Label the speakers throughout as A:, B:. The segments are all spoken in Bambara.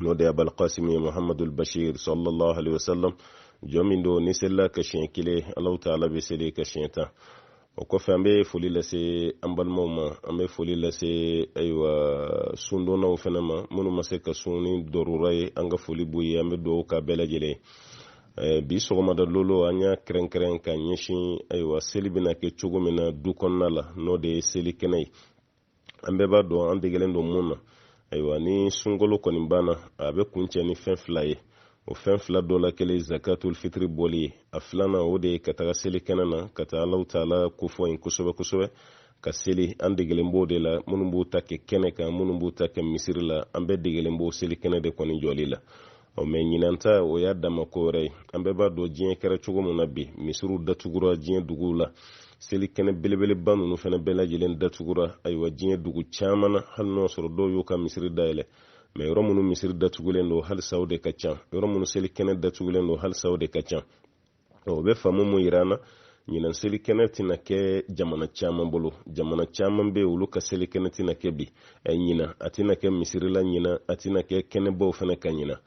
A: n'o de abal qasimi muhammadul bashir sallallahu alaihi wasallam jɔn min don n'i selila a kan siɲɛ kelen allah ta'ala bɛ seli i kan siɲɛ tan o kɔfɛ an bɛ foli lase an balimaw ma an bɛ foli lase ayiwa sundonnaw fana ma minnu ma se ka sun ni darura ye an ka foli b'u ye an bɛ dugawu k'a bɛɛ lajɛlen Eh, bi sɔgɔmada lolo an y'a kɛrɛnkɛrɛn ka ɲɛsin ayiwa seli bɛna kɛ cogo min na du kɔnɔna la n'o de ye seli kɛnɛ ye an bɛɛ b'a dɔn an degelen don mun na ayiwa ni sunkalo kɔni banna a bɛ kuncɛ ni fɛn fila ye o fɛn fila dɔ la kelen zakatul fitiri bɔli ye a filanan o de ye ka taga seli kɛnɛ na ka taa alahu taala kofɔ yen kosɛbɛ kosɛbɛ ka seli an degelen b'o de la minnu b'u ta kɛ kɛnɛ kan minnu b'u ta kɛ misiri la an bɛɛ degelen b'o seli kɛnɛ de kɔni jɔli la ɔ mɛ ɲinan ta o y'a dama ko wɛrɛ ye an bɛɛ b'a dɔn diɲɛ kɛra cogo min na bi misiriw datugura diɲɛ duguw la seli kɛnɛ belebeleba ninnu fana bɛɛ lajɛlen datugura ayiwa diɲɛ dugu caman na hali n'o sɔrɔ dɔw y'u ka misiri dayɛlɛ mɛ yɔrɔ minnu misiri datugulen don halisa o de ka ca yɔrɔ minnu seli kɛnɛ datugulen don halisa o de ka ca o bɛ faamu mun yira an na ɲinan selikɛnɛ tɛna kɛ jamana caman bolo jamana caman bɛ olu ka selikɛnɛ tɛna kɛ bi ɛ ɲinan a tɛna kɛ misirila ɲinan a tɛna kɛ kɛnɛbaw fana kan ɲinan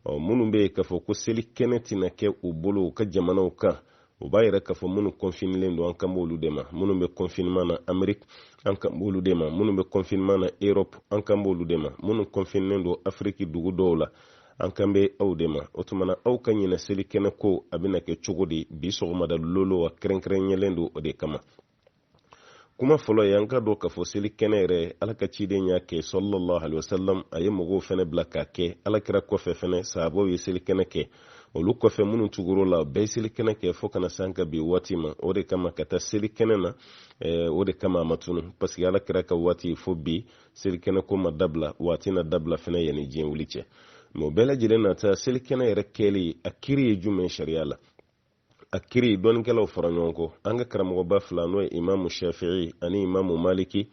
A: ɔ minnu bɛ yen k'a fɔ ko selikɛnɛ tɛna kɛ u bolo u ka jamanaw kan o b'a yira k'a fɔ minnu kɔnfinilen don an kan b'olu de ma minnu bɛ kɔnfinima na ameriki an kan b'olu de ma minnu bɛ kɔnfinima na erɔpu an kan b'olu de ma minnu kɔnfinilen don afiriki dugu dɔw la an kan bɛ aw de ma o tuma na aw ka ɲinan seli kɛnɛ ko a bɛna kɛ cogo di bi sɔgɔmada lolo a kɛrɛnkɛrɛnyalen don o de kama kuma fɔlɔ ye an ka dɔn k'a fɔ seli kɛnɛ yɛrɛ ala ka ciden y'a kɛ sallallahu alaihi wasallam a ye mɔgɔw fɛnɛ bila k'a kɛ ala kira kɔfɛ fɛnɛ sahabaw ye seli kɛnɛ kɛ olu kɔfɛ minnu tugura u la bɛɛ seli kɛnɛ kɛ fo ka na se an ka bi waati ma o de kama ka taa seli kɛnɛ na o de kama a ma tunun paseke ala kira ka waati fo bi selikɛnɛ ko ma dabila wa a tɛna dabila fana yanni diɲɛ wuli cɛ mɛ o bɛɛ lajɛlen n'a ta selikɛnɛ yɛrɛ kɛli a kiri ye jumɛn sariya la a kiri dɔnnikɛlaw fɔra ɲɔgɔn kɔ an ka karamɔgɔba fila n'o ye imamu shafii ani imamu maliki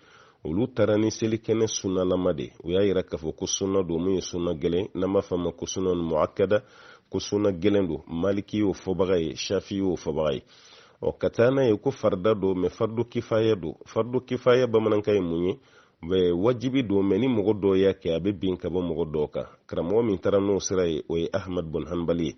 A: olu taara ni selikɛnɛ sunnalama de u y'a yira k'a fɔ ko sunna don mun ye sunna gɛlɛn n'an b'a fɔ a ma ko sunna muakada ko sunna gɛlɛn don maliki y'o fɔbaga ye shafi y'o fɔbaga ye ɔ ka taa n'a ye ko farida don mɛ fardu kifaya don fardu kifaya bamanankan ye mun ye wajibi don mɛ ni mɔgɔ dɔw y'a kɛ a bɛ bin ka bɔ mɔgɔ tɔw kan karamɔgɔ min taara n'o sira ye o ye ahmad bun hanbali ye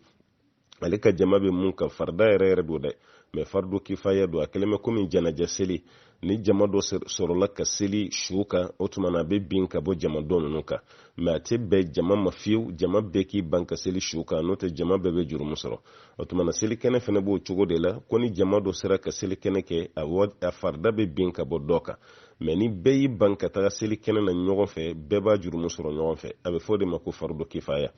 A: ale ka jama bɛ mun kan farida yɛrɛ yɛrɛ don dɛ mɛ fardu kifaya don a kɛlen bɛ komi janaja seli ni jama dɔ sɔrɔla ka seli su kan o tuma na a bɛ bin ka bɔ jama dɔ ninnu kan mɛ a tɛ bɛn jama ma fiyewu jama bɛɛ k'i ban ka seli su kan n'o tɛ jama bɛɛ bɛ jurumu sɔrɔ o tuma na selikɛnɛ fana b'o cogo de la ko ni jama dɔ sera ka selikɛnɛ kɛ a farida bɛ bin ka bɔ dɔ kan mɛ ni bɛɛ y'i ban ka taga selikɛnɛ na ɲɔgɔn fɛ bɛɛ b'a jurumu sɔrɔ ɲɔgɔn fɛ a bɛ fɔ o de ma ko faridu kifaya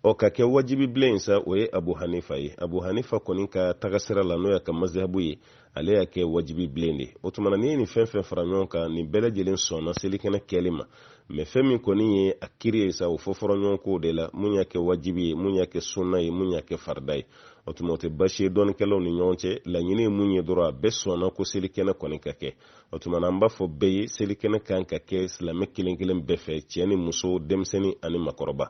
A: ɔ ka kɛ wajibi bilen ye sa o ye abu hanifa ye abu hanifa kɔni ka tagasira la n'o y'a ka mazihabu ye ale y'a kɛ wajibi bilen de o tuma na n'i ye nin fɛn fɛn fara ɲɔgɔn kan nin bɛɛ lajɛlen sɔnna selikɛnɛ kɛli ma mɛ fɛn min kɔni ye a kiri ye sa u fɔ fɔra ɲɔgɔn kɔ o de la mun y'a kɛ wajibi ye mun y'a kɛ sunna ye mun y'a kɛ farida ye o tuma o tɛ basi ye dɔnnikɛlaw ni ɲɔgɔn cɛ laɲini ye mun ye dɔrɔn a bɛɛ sɔnna ko selikɛnɛ kɔni ka kɛ o tuma na an b'a fɔ bɛɛ ye selikɛnɛ ka kan ka kɛ silamɛ kelen kelen bɛɛ fɛ cɛ ni muso denmisɛnnin ani makɔrɔba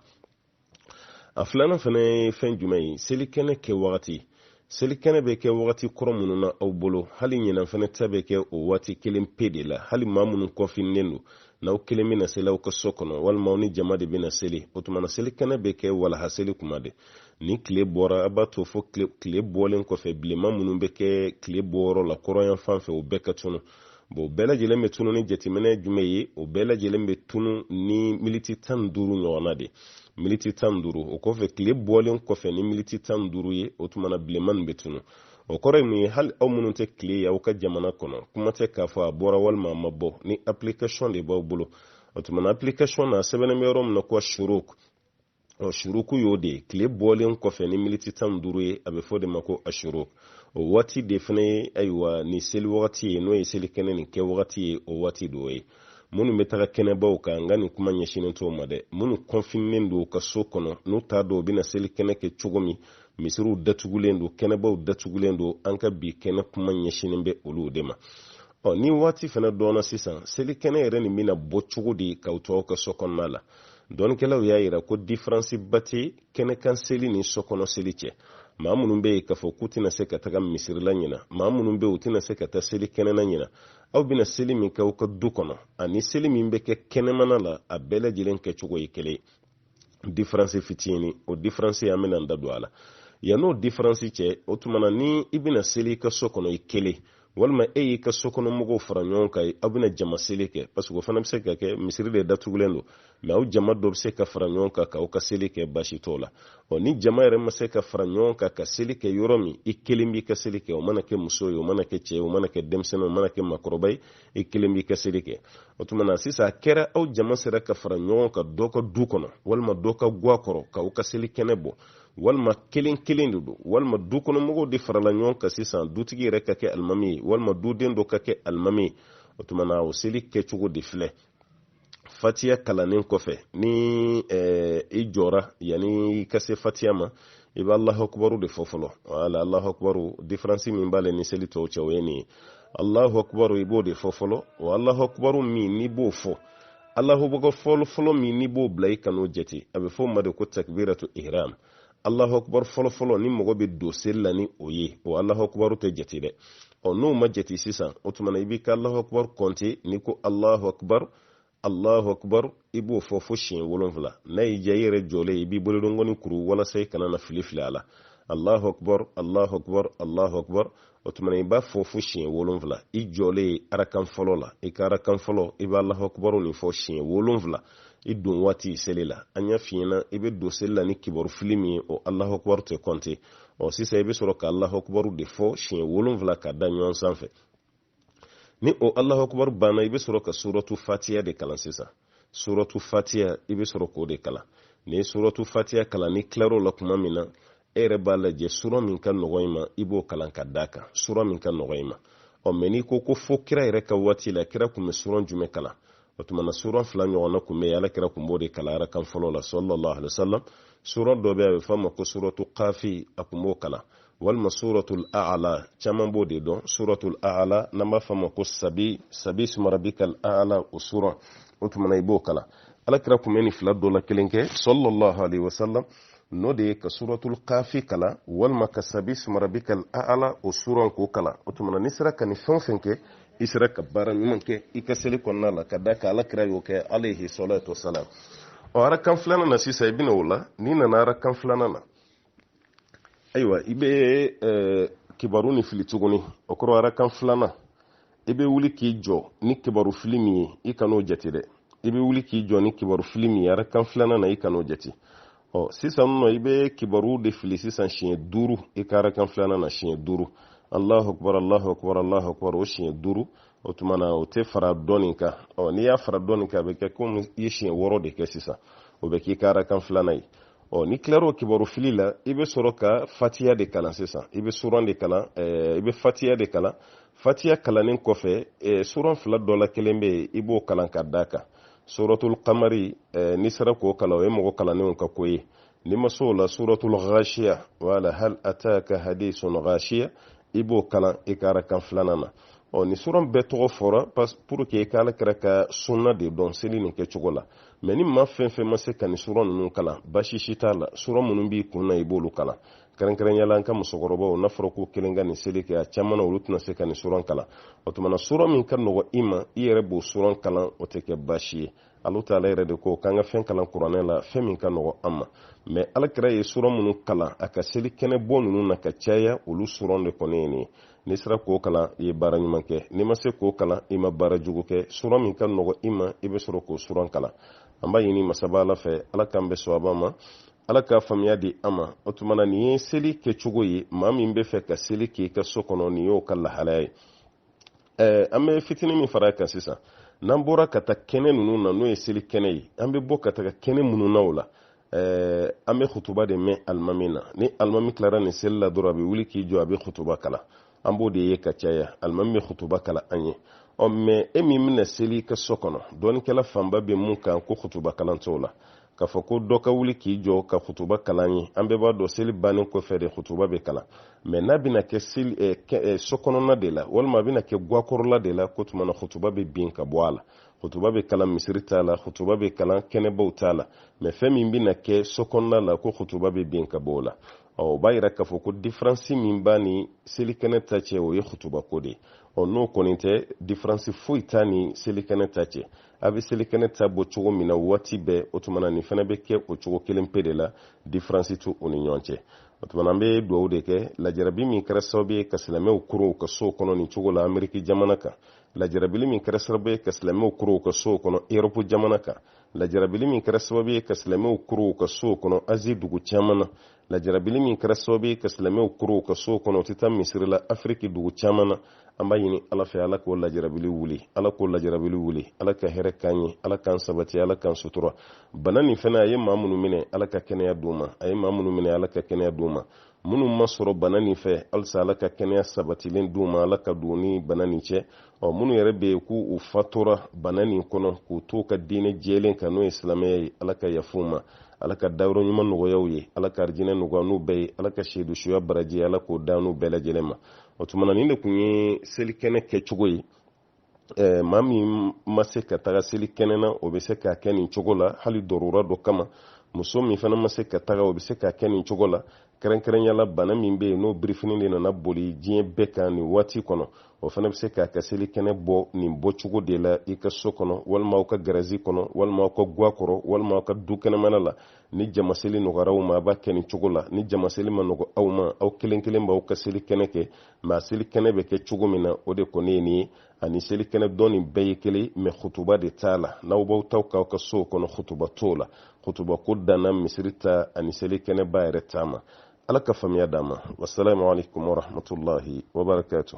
A: a filanan fana ye fɛn jumɛn ye selikɛnɛ kɛ wagati selikɛnɛ bɛ kɛ wagati kɔrɔ minnu na aw bolo hali ɲinan fana ta bɛ kɛ o waati kelen pe de la hali maa minnu kɔnfinilen don n'aw kelen bɛna seli aw ka so kɔnɔ walima aw ni jama de bɛna seli o tuma na selikɛnɛ bɛ kɛ walaha seli kuma de ni tile bɔra a b'a to fo tile bɔlen kɔfɛ bilenma minnu bɛ kɛ tile bɔyɔrɔ la kɔrɔn yan fan fɛ o bɛɛ ka tunu bon bɛɛ lajɛlen bɛ tunu ni jateminɛ jumɛn ye o bɛɛ lajɛlen bɛ tunu ni miniti tan ni duuru ɲɔgɔnna de miniti tan ni duuru o kɔfɛ tile bɔlen kɔfɛ ni miniti tan ni duuru ye o tuma na bilenma nin bɛ tunu o kɔrɔ ye mun ye hali aw minnu tɛ tile ye aw ka jamana kɔnɔ kuma tɛ k'a fɔ a bɔra walima a ma bɔ ni application de b'aw bolo o tuma na application na sɛbɛnnen bɛ yɔrɔ min na ko shuruk ɔ shuruk y'o de ye tile bɔlen kɔfɛ ni miniti tan ni duuru ye a bɛ fɔ o de ma ko ashuruk o waati de fana ye ayiwa nin seli wagati ye n'o ye seli kɛnɛ nin kɛ wagati ye o waati de o ye minnu bɛ taga kɛnɛbaw kan n ka nin kuma ɲɛsinnen t'o ma dɛ minnu kɔnfinilen don u ka so kɔnɔ n'u t'a dɔn u bɛna seli kɛnɛ kɛ cogo min misiriw datugulen don kɛnɛbaw datugulen don an ka bi kɛnɛ kuma ɲɛsinnen bɛ olu de ma ɔ ni waati fana dɔnna sisan seli kɛnɛ yɛrɛ nin bɛna bɔ cogo di k'aw to aw ka so kɔnɔna la dɔnnikɛlaw y'a yira ko diferansiba tɛ kɛnɛkan seli ni sokɔnɔ seli cɛ maa minnu bɛ yen k'a fɔ k'u tɛna se ka taga misiri la ɲinan maa minnu bɛ yen u tɛna se ka taa selikɛnɛ na ɲinan aw bɛna seli min kɛ aw ka du kɔnɔ ani seli min bɛ kɛ kɛnɛmana la a bɛɛ lajɛlen kɛcogo ye kelen diferansi fitinin o diferansi an bɛna an da don a la yann'o diferansi cɛ o tuma na ni i bɛna seli i ka so kɔnɔ i kelen walima e y'i ka sokɔnɔmɔgɔw fara ɲɔgɔn kan aw bɛna jama seli kɛ parce que o fana bɛ se ka kɛ misiri de datugulen don mɛ aw jama dɔ bɛ se ka fara ɲɔgɔn kan k'aw ka seli kɛ baasi t'o la ɔ ni jama yɛrɛ ma se ka fara ɲɔgɔn kan ka seli kɛ yɔrɔ min i kelen b'i ka seli kɛ o mana kɛ muso ye o mana kɛ cɛ ye o mana kɛ denmisɛnnin o mana kɛ makɔrɔba ye i kelen b'i ka seli kɛ o tuma na sisan a kɛra aw jama sera ka fara ɲɔgɔn kan dɔ ka du kɔnɔ walima dɔ ka gwa kɔrɔ k'aw ka seli kɛnɛ bɔ walima kelen kelen de don walima du kɔnɔmɔgɔw de farala ɲɔgɔn kan sisan dutigi yɛrɛ ka kɛ alimami ye walima duden dɔ ka kɛ alimami ye o tuma na o seli kɛcogo de filɛ fatiya kalannen kɔfɛ ni eh, i jɔra yanni i ka se fatiya ma i bɛ alahu akubaru de fɔ fɔlɔ wala alahu akubaru diferansi min b'ale ni seli tɔw cɛ o ye nin ye alahu akubaru i b'o de fɔ fɔlɔ wa alahu akubaru min n'i b'o fɔ alahu akubar fɔlɔ fɔlɔ min n'i b'o bila i kan'o jate a bɛ fɔ o ma de ko takbiratul ihram alahu akubar fɔlɔ fɔlɔ ni mɔgɔ bɛ don seli la ni o ye o alahu akubaru tɛ jate dɛ ɔ n'o ma jate sisan o tuma na i b'i ka alahu akubar kɔnte n'i ko alahu akubar alahu akubar i b'o fɔ fo siɲɛ wolonfila n'a y'i diya i yɛrɛ jɔlen i b'i bolodongɔni kuru walasa i kana na fili fili a la alahu akubar alahu akubar alahu akubar o tuma na i b'a fɔ fo siɲɛ wolonfila i jɔlen arakan fɔlɔ la i ka arakan fɔlɔ i b'alahakubaru nin fɔ siɲɛ wolonfila i don waati seli la an y'a f'i ɲɛna i bɛ don seli la ni kibaru fili min ye o alahakubaru tɛ kɔnte ɔ sisan i bɛ sɔrɔ ka alahakubaru de fɔ siɲɛ wolonfila ka da ɲɔgɔn sanfɛ ni o alahakubaru banna i bɛ sɔrɔ ka suratu fatiya de kalan sisan suratu fatiya i bɛ sɔrɔ k'o de kalan ni suratu fatiya kalan n'i tilar'o la tuma min na e yɛrɛ b'a lajɛ sura min ka nɔgɔn i ma i b'o kalan ka d'a kan sura min ka nɔgɔn i ma ɔ mɛ n'i ko ko fo kira yɛrɛ ka waati la kira tun bɛ suran jumɛn kalan o tuma na suran fila ɲɔgɔnna tun bɛ yen ala kira tun b'o de kalan arakan fɔlɔ la sallallahu alaihi wasallam sura dɔ bɛ a bɛ f'a ma ko suratu kafi a tun b'o kalan walima suratul a'la caman b'o de dɔn suratul a'la n'an b'a f'a ma ko sabi sabi sumarabikal a'la o suran o tuma na i b'o kalan ala kira tun bɛ nin fila dɔ la kelen kɛ sallallahu alaihi wasallam n'o de ye ka suratul kafi kalan walima ka sabi sumarabikal a'la o suran k'o kalan o tuma na n'i sera ka nin fɛn o fɛn kɛ i sera ka baara ɲuman kɛ i ka seli kɔnɔna la ka d'a kan ala kira y'o kɛ alayhi salatu wasalam ɔ arakan filanan na sisan i bɛ na o la n'i nana arakan filanan na ayiwa i bɛ kibaru ni fili tuguni o kɔrɔ arakan filanan i bɛ wuli k'i jɔ ni kibaru fili min ye i kan'o jate dɛ i bɛ wuli k'i jɔ ni kibaru fili min ye arakan filanan na i kan'o jate ɔ sisan nɔ i bɛ kibaru de fili sisan siɲɛ duuru i ka arakan filanan na siɲɛ duuru alahu akubar alahu akubar alahu akubar o siɲɛ duuru o tuma na o tɛ fara dɔ nin kan ɔ n'i y'a fara dɔ nin kan a bɛ kɛ komi i ye siɲɛ wɔɔrɔ de kɛ sisan o bɛ k'i ka arakan filanan ye ɔ n'i tilar'o kibaru fili la i bɛ sɔrɔ ka fatiya de kalan sisan i bɛ suran de kalan ɛɛ i bɛ fatiya de kalan fatiya kalannen kɔfɛ eh, suran fila dɔ la kelen bɛ yen i b'o kalan ka d'a kan suratul kamari eh, n'i sera k'o kalan o ye mɔgɔ kalannenw ka ko ye n'i ma s'o la suratul ghashiya wala hal ataka hadisul ghashiya i b'o kalan i ka arakan filanan na ɔ nin suran bɛɛ tɔgɔ fɔra pour que i ka ala kira ka sunna de dɔn seli nin kɛcogo la mɛ ni maa fɛn fɛn ma se ka nin suran ninnu kalan baasi si t'a la suran minnu b'i kun na i b'olu kalan kɛrɛnkɛrɛnya la an ka musokɔrɔbaw n'a fɔra k'u kelen ka nin seli kɛ a caman na olu tɛna se ka nin suran kalan o tuma na suran min ka nɔgɔ i ma i yɛrɛ b'o suran kalan o tɛ kɛ baasi ye alahu taala yɛrɛ de ko k'an ka fɛn kalan kuranɛ la fɛn min ka nɔgɔ an ma mɛ ala kira ye suran minnu kalan a ka seli kɛnɛ bɔ ninnu na ka caya olu suran de kɔni ye nin ye n'i sera k'o kalan i ye baara ɲuman kɛ n'i ma se k'o kalan i ma baara jugu kɛ suran min ka nɔgɔ i ma i bɛ sɔrɔ k'o suran kalan an b'a ɲini masaba ala fɛ ala k'an bɛn sawaba ma ala ka faamuya di an ma o tuma na nin ye seli kɛcogo ye maa min b'a fɛ ka seli k'i ka so kɔnɔ nin y'o ka lahalaya ye ɛɛ an bɛ fitinin min fara a kan sisan n'an bɔra ka taa kɛnɛ ninnu na n'o ye seli kɛnɛ ye an bɛ bɔ ka taga kɛnɛ minnu na o la ɛɛ an bɛ kutuba de mɛn alimami na ni alimami tilara nin seli la dɔrɔn a bɛ wuli k'i jɔ a bɛ kutuba kalan an b'o de ye ka caya alimami bɛ kutuba kalan an ye ɔ mɛ e min bɛna seli i ka so kɔnɔ dɔnnikɛla fanba bɛ mun kan ko kutuba kalan t'o la k'a fɔ ko dɔ ka wuli k'i jɔ ka kutuba kalan i ye an bɛɛ b'a dɔn seli bannen kɔfɛ de kutuba bɛ kalan mɛ n'a bɛna kɛ seli eh, eh, so kɔnɔna de la walima a bɛna kɛ gwakɔrɔla de la k'o tuma na kutuba bɛ bin ka bɔ a la kutuba bɛ kalan misiri ta la kutuba bɛ kalan kɛnɛbaw ta la mɛ fɛn min bɛna kɛ so kɔnɔna la ko kutuba bɛ bin ka bɔ o la ɔ o b'a yira k'a fɔ ko diferansi min b'a ni selikɛnɛ ta cɛ o ye hutubako de ye ɔ n'o kɔni tɛ diferansi foyi t'a ni selikɛnɛ ta cɛ a bɛ selikɛnɛ ta bɔ cogo min na waati bɛɛ o tuma na nin fana bɛ kɛ o cogo kelen pe de la diferansi t'u ni ɲɔgɔn cɛ o tuma na an bɛ dugawu de kɛ lajarabi min kɛra sababu ye ka silamɛw koron u ka sow kɔnɔ nin cogo la ameriki jamana kan lajarabili min kɛra sababu ye ka silamɛw koron u ka sow kɔnɔ erɔpu jamana kan lajarabili min kɛra sababu ye ka silamɛw koron u ka sow kɔnɔ azi dugu caman na lajarabili min kɛra sababu ye ka silamɛw koron u ka sow kɔnɔ u tɛ taa misiri la afiriki dugu caman na an b'a ɲini ala fɛ ala k'o lajarabili wuli ala k'o lajarabili wuli ala ka hɛrɛ k'an ye ala k'an sabati ala k'an sutura bana nin fana a ye maa minnu minɛ ala ka kɛnɛya d'u ma a ye maa minnu minɛ ala ka kɛnɛya d'u ma minnu ma sɔrɔ bana nin fɛ halisa ala ka kɛnɛya sabatilen d'u ma ala ka don u ni bana nin cɛ ɔ minnu yɛrɛ bɛ yen ko u fatura bana nin kɔnɔ k'u to ka diinɛ jɛlen kan n'o ye silamɛya ye ala ka yafa u ma ala ka dayɔrɔ ɲuman nɔgɔya u ye ala ka arijinɛ nɔgɔya an n'u bɛɛ ye ala ka seedusuya baraji ala k'o d'an n'u bɛɛ lajɛlen ma o tuma na nin de tun ye selikɛnɛ kɛcogo ye eh, maa min ma se ka taga seli kɛnɛ na o bɛ se k'a kɛ nin cogo la hali darura dɔ kama muso min fana ma se ka taga o bɛ se k'a kɛ nin cogo la kɛrɛnkɛrɛnya la bana min bɛ yen n'o birifini de nana boli diɲɛ bɛɛ kan nin waati kɔnɔ o fana bɛ se k'a ka seli kɛnɛ bɔ nin bɔcogo de la i ka so kɔnɔ walima aw ka garazi kɔnɔ walima aw ka gwa kɔrɔ walima aw ka du kɛnɛmana la ni jamaseli nɔgɔyara aw ma a b'a kɛ nin cogo la ni jamaseli ma nɔgɔya aw ma aw kelen kelen b'aw ka seli kɛnɛ kɛ mɛ selikɛnɛ bɛ kɛ cogo min na o de kɔni ye nin ye ani selikɛnɛ dɔ nin bɛɛ ye kelen mɛ hutuba de t'a la n'aw b'aw taw k'aw ka sow kɔnɔ hutuba t'o la hutuba ko danna misiri ta ani selikɛnɛba yɛrɛ ta ma ala ka faamuya d'an ma wasalamu alaikum warahmatullahi wabarakatuh